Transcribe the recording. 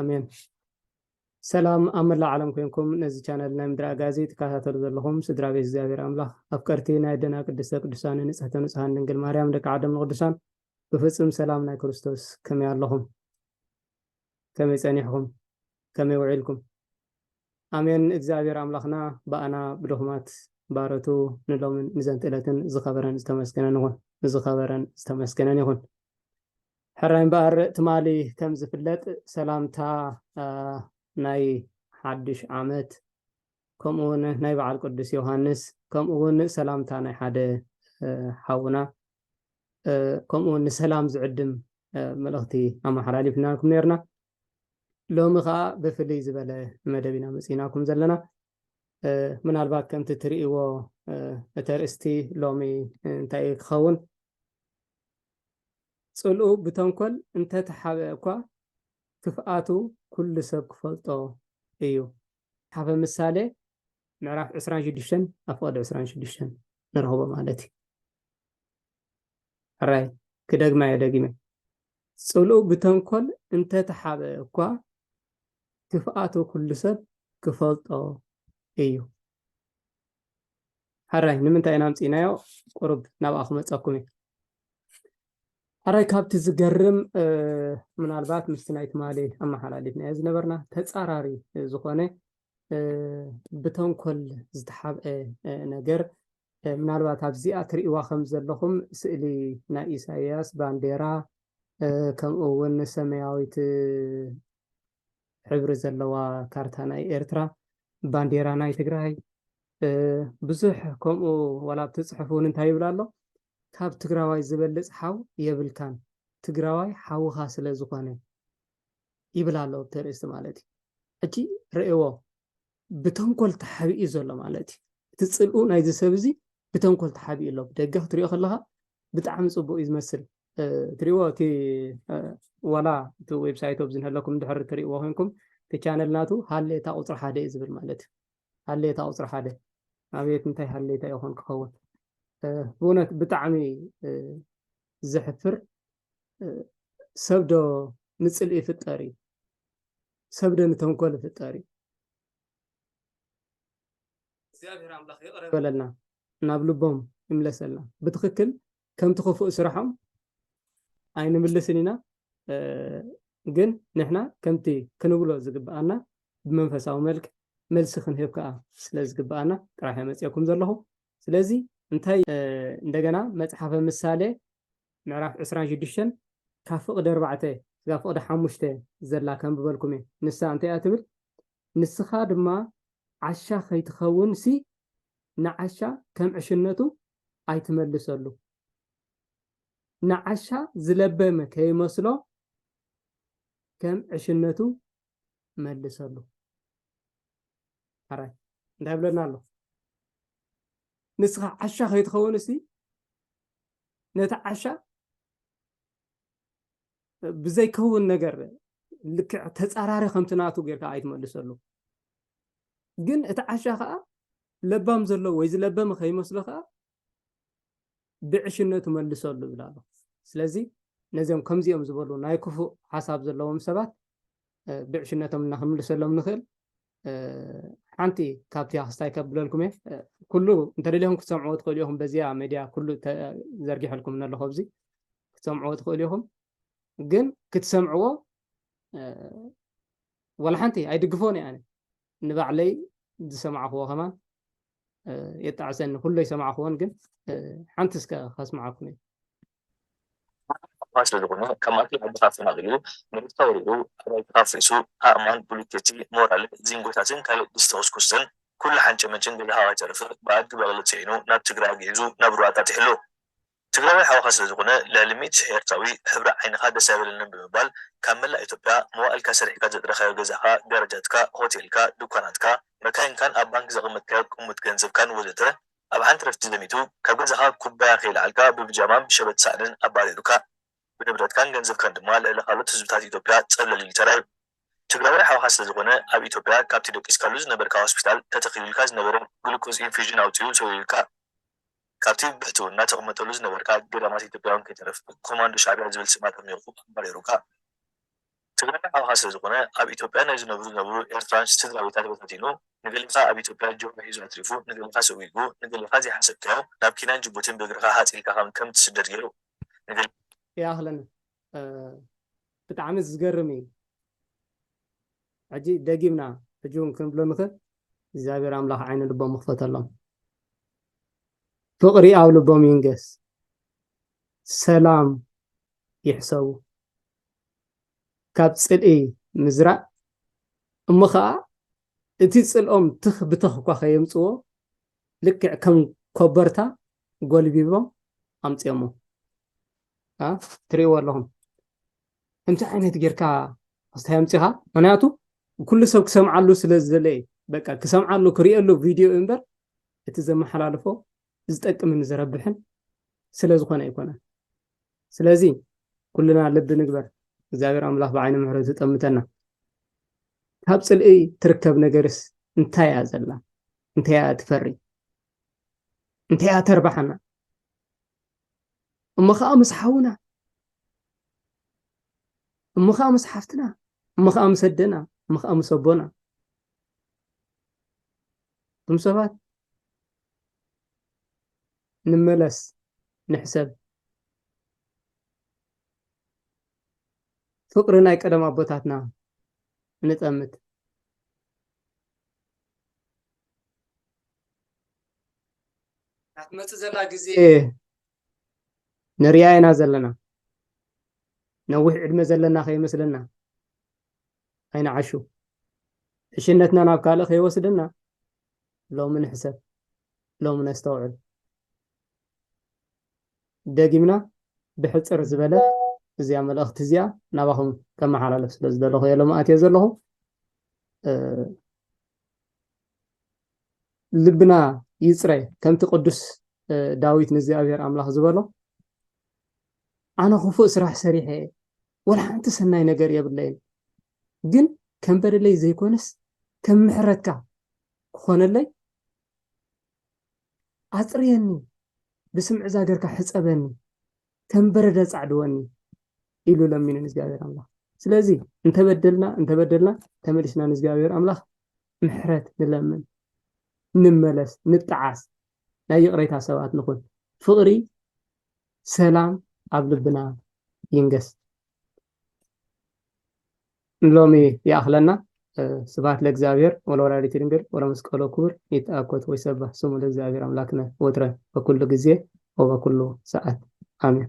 ኣሜን ሰላም ኣብ መላእ ዓለም ኮንኩም ነዚ ቻነል ናይ ምድሪ ኣጋዚ ትከታተሉ ዘለኹም ስድራ ቤት እግዚኣብሔር ኣምላኽ ኣፍቀርቲ ናይ ደና ቅድስተ ቅዱሳን ንጽሕተ ንጹሃን ድንግል ማርያም ደቂ ዓደም ንቅዱሳን ብፍጹም ሰላም ናይ ክርስቶስ ከመይ ኣለኹም ከመይ ጸኒሕኹም ከመይ ውዒልኩም ኣሜን እግዚኣብሔር ኣምላኽና ብኣና ብድኹማት ባረቱ ንሎምን ንዘንትእለትን ዝኸበረን ዝተመስገነን ይኹን ንዝኸበረን ዝተመስገነን ይኹን ሕራይ እምበኣር ትማሊ ከም ዝፍለጥ ሰላምታ ናይ ሓዱሽ ዓመት ከምኡ እውን ናይ በዓል ቅዱስ ዮሃንስ ከምኡ እውን ሰላምታ ናይ ሓደ ሓውና ከምኡ እውን ንሰላም ዝዕድም መልእኽቲ ኣመሓላሊፍናልኩም ነርና ሎሚ ከዓ ብፍልይ ዝበለ መደብ ኢና መፅኢናኩም ዘለና ምናልባት ከምቲ እትርእይዎ እተርእስቲ ሎሚ እንታይ ክኸውን ጽልኡ ብተንኮል እንተ ተሓብአ እኳ ክፍኣቱ ኩሉ ሰብ ክፈልጦ እዩ። መጽሓፈ ምሳሌ ምዕራፍ ዕስራን ሽዱሽተን ኣብ ፍቕዲ ዕስራን ሽዱሽተን ንረኽቦ ማለት እዩ። ሕራይ ክደግማዮ ደጊመ ጽልኡ ብተንኮል እንተ ተሓብአ እኳ ክፍኣቱ ኩሉ ሰብ ክፈልጦ እዩ። ሓራይ ንምንታይ ኢና ኣምፂእናዮ ቁሩብ ናብኣ ክመፀኩም እዩ ሓራይ ካብቲ ዝገርም ምናልባት ምስቲ ናይ ትማሊ ኣመሓላሊፍናዮ ዝነበርና ተፃራሪ ዝኾነ ብተንኮል ዝተሓብአ ነገር ምናልባት ኣብዚኣ ትርእዋ ከም ዘለኹም ስእሊ ናይ ኢሳያስ ባንዴራ ከምኡ እውን ሰማያዊት ሕብሪ ዘለዋ ካርታ ናይ ኤርትራ ባንዴራ ናይ ትግራይ ብዙሕ ከምኡ ዋላ ኣብቲ ፅሑፍ እውን እንታይ ይብል ኣሎ ካብ ትግራዋይ ዝበልፅ ሓው የብልካን ትግራዋይ ሓውኻ ስለ ዝኾነ ይብል ኣሎ ኣብቲ ርእስቲ ማለት እዩ ሕጂ ርእዎ ብተንኮል ተሓቢኡ እዩ ዘሎ ማለት እዩ። እቲ ፅልኡ ናይዚ ሰብ እዚ ብተንኮል ተሓቢኡ ኣሎ። ብደገ ክትሪኦ ከለኻ ብጣዕሚ ፅቡቅ እዩ ዝመስል ትሪእዎ እቲ ዋላ እቲ ዌብሳይት ኣብዚ ንህለኩም ድሕሪ ትሪእዎ ኮንኩም እቲ ቻነል ናቱ ሃሌታ ቁፅሪ ሓደ እዩ ዝብል ማለት እዩ። ሃሌታ ቁፅሪ ሓደ ኣብየት እንታይ ሃሌታ ይኾን ክኸውን ብእውነት ብጣዕሚ ዘሕፍር ሰብ ዶ ንፅልኢ ይፍጠር እዩ? ሰብ ዶ ንተንኮል ይፍጠር እዩ? እግዚኣብሔር ኣምላኽ ይቕረ በለልና ናብ ልቦም ይምለሰልና። ብትኽክል ከምቲ ክፉእ ስራሖም ኣይንምልስን ኢና፣ ግን ንሕና ከምቲ ክንብሎ ዝግብኣና ብመንፈሳዊ መልክ መልሲ ክንህብ ከዓ ስለ ዝግብኣና ጥራሕ መፅኦኩም ዘለኹ። ስለዚ እንታይ እንደገና መፅሓፈ ምሳሌ ምዕራፍ ዕስራን ሽዱሽተን ካብ ፍቕዲ ኣርባዕተ ክሳብ ፍቕዲ ሓሙሽተ ዘላ ከንብበልኩም እየ። ንሳ እንታይ እያ ትብል? ንስኻ ድማ ዓሻ ከይትኸውንሲ ንዓሻ ከም ዕሽነቱ ኣይትመልሰሉ። ንዓሻ ዝለበመ ከይመስሎ ከም ዕሽነቱ መልሰሉ ሓራይ እንታይ ብለና ኣሎ ንስኻ ዓሻ ከይትኸውን እስቲ ነቲ ዓሻ ብዘይከውን ነገር ልክዕ ተፃራሪ ከምቲ ናቱ ጌርካ ኣይትመልሰሉ ግን እቲ ዓሻ ከዓ ለባም ዘሎ ወይ ዝለበመ ከይመስሎ ከዓ ብዕሽነቱ መልሰሉ ይብል ኣሎ ስለዚ ነዚኦም ከምዚኦም ዝበሉ ናይ ክፉእ ሓሳብ ዘለዎም ሰባት ብዕሽነቶም እና ክንምልሰሎም ንኽእል ሓንቲ ካብቲ ክስታይ ከብለልኩም እየ ኩሉ እንተደሊኹም ክትሰምዕዎ ትኽእሉ ኢኹም በዚኣ ሜድያ ኩሉ ዘርጊሐልኩም ነለኹ ኣብዚ ክትሰምዕዎ ትኽእሉ ኢኹም ግን ክትሰምዕዎ ዋላ ሓንቲ ኣይድግፎን እየ ኣነ ንባዕለይ ዝሰማዕክዎ ከማን የጣዕሰኒ ኩሎ ይሰማዕክዎን ግን ሓንቲ እስከ ከስማዓኩም እዩ ስለ ዝኾነ ከማቲ ሕቡታት ተናግዩ ንሩታ ወሪኡ ኣባይትታት ፍእሱ ኣእማን ቡሊኬቲ ሞራል ዚንጎታትን ካልእ ዲስተኩስኩስትን ኩሉ ሓንጨመጭን ገዛ ሃዋይ ተርፍር ብኣድጊ በቕሊ ፅዒኑ ናብ ትግራይ ኣግዒዙ ናብ ሩዋንዳ ጢሕሉ ትግራዋይ ሓውኻ ስለ ዝኹነ ልዕሊ ሚእቲ ኤርትራዊ ሕብሪ ዓይንኻ ደስ ኣይበለንን ብምባል ካብ መላእ ኢትዮጵያ መዋእልካ ሰሪሕካ ዘጥረኻዮ ገዛኻ ጋራጃትካ ሆቴልካ ዱካናትካ መካይንካን ኣብ ባንክ ዘቐመጥካዮ ቅሙጥ ገንዘብካን ወዘተ ኣብ ሓንቲ ረፍቲ ዘሚቱ ካብ ገዛኻ ኩባያ ከይለዓልካ ብብጃማን ብሸበጥ ሳእንን ኣባሪሩካ ብንብረትካን ገንዘብካን ድማ ልዕሊ ካልኦት ህዝብታት ኢትዮጵያ ጸብለል ኢሉ ተራእዩ ትግራዋይ ሓውኻ ስለ ዝኹነ ኣብ ኢትዮጵያ ካብቲ ደቂስካሉ ዝነበርካ ሆስፒታል ተተኺሉልካ ዝነበረ ግሉኮዝ ኢንፊዥን ኣውጺኡ ሰዊሩልካ። ካብቲ ብሕትውና ተቕመጠሉ ዝነበርካ ገዳማት ኢትዮጵያውን ከይተረፈ ኮማንዶ ሻዕቢያ ዝብል ስም ኣጠሚቑ ኣባሪሩካ። ትግራይ ዓኻ ስለ ዝኾነ ኣብ ኢትዮጵያ ናይ ዝነብሩ ዝነበሩ ኤርትራውያን ስድራቤታት በታቲኑ፣ ንገሌኻ ኣብ ኢትዮጵያ ጆሮ ሒዙ ኣትሪፉ፣ ንገሌኻ ሰጒጉ፣ ንገሌኻ ዘይሓሰብካዮ ናብ ኬንያን ጅቡቲን ብእግርኻ ሃጽ ኢልካ ከም ከም ትስደድ ገይሩ፣ ንገሌኻ። ይኣኽለና ብጣዕሚ ዝገርም እዩ ሕጂ ደጊምና ሕጂ ውን ክንብሎ ንኽእል እግዚኣብሔር ኣምላኽ ዓይነ ልቦም ይኽፈተሎም። ፍቕሪ ኣብ ልቦም ይንገስ፣ ሰላም ይሕሰቡ። ካብ ጽልኢ ምዝራእ እሞ ኸኣ እቲ ጽልኦም ትኽ ብተኽ እኳ ከየምጽዎ ልክዕ ከም ኮበርታ ጎልቢቦም ኣምጺኦሞ ትርእይዎ ኣለኹም። እንታይ ዓይነት ጌርካ ኣስታይ ኣምጺኻ? ምክንያቱ ኩሉ ሰብ ክሰምዓሉ ስለ ዝደለየ በቃ ክሰምዓሉ ክርእየሉ ቪድዮ እዩ እምበር እቲ ዘመሓላልፎ ዝጠቅምን ዘረብሕን ስለ ዝኾነ ኣይኮነን። ስለዚ ኩልና ልቢ ንግበር፣ እግዚኣብሔር ኣምላኽ ብዓይነ ምሕረቱ ይጠምተና። ካብ ጽልኢ ትርከብ ነገርስ እንታይ እያ ዘላ? እንታይ እያ ትፈሪ? እንታይ እያ ተርባሓና? እሞ ከዓ ምስ ሓውና፣ እሞ ከዓ ምስ ሓፍትና፣ እሞ ከዓ ምስ ኣደና፣ እሞ ከዓ ምስ ኣቦና እቶም ሰባት ንመለስ ንሕሰብ ፍቅሪ ናይ ቀደም ኣቦታትና ንጠምት ናትመፅእ ዘላ ግዜ ንሪኣ ኢና ዘለና ነዊሕ ዕድመ ዘለና ከይመስለና ኣይንዓሹ ዕሽነትና ናብ ካልእ ከይወስደና ሎሚ ንሕሰብ ሎሚ ነስተውዕል ደጊምና ብሕፅር ዝበለ እዚኣ መልእኽቲ እዚኣ ናባኹም ከመሓላለፍ ስለ ዝደለኹ እየ ሎሚ ኣትየ ዘለኹ ልብና ይፅረ ከምቲ ቅዱስ ዳዊት ንእግዚኣብሔር ኣምላኽ ዝበሎ ኣነ ክፉእ ስራሕ ሰሪሐ እየ ወላ ሓንቲ ሰናይ ነገር የብለይን ግን ከም በደለይ ዘይኮነስ ከም ምሕረትካ ክኾነለይ ኣፅርየኒ ብስም ዕዛ ገርካ ሕፀበኒ ከም በረደ ፃዕድወኒ ኢሉ ለሚኑ ንእግዚኣብሔር ኣምላኽ ስለዚ እንተበደልና እንተበደልና ተመሊስና ንእግዚኣብሔር ኣምላኽ ምሕረት ንለምን ንመለስ ንጠዓስ ናይ ይቕሬታ ሰባት ንኹን ፍቕሪ ሰላም ኣብ ልብና ይንገስ። ንሎሚ ይኣኽለና። ስብሐት ለእግዚኣብሔር ወለወላዲቱ ድንግል ወለመስቀሉ ክቡር ይትአኮት ወይሰብሕ ስሙ ለእግዚኣብሔር አምላክነ ወትረ በኩሉ ጊዜ ወበኩሉ ሰዓት አሜን።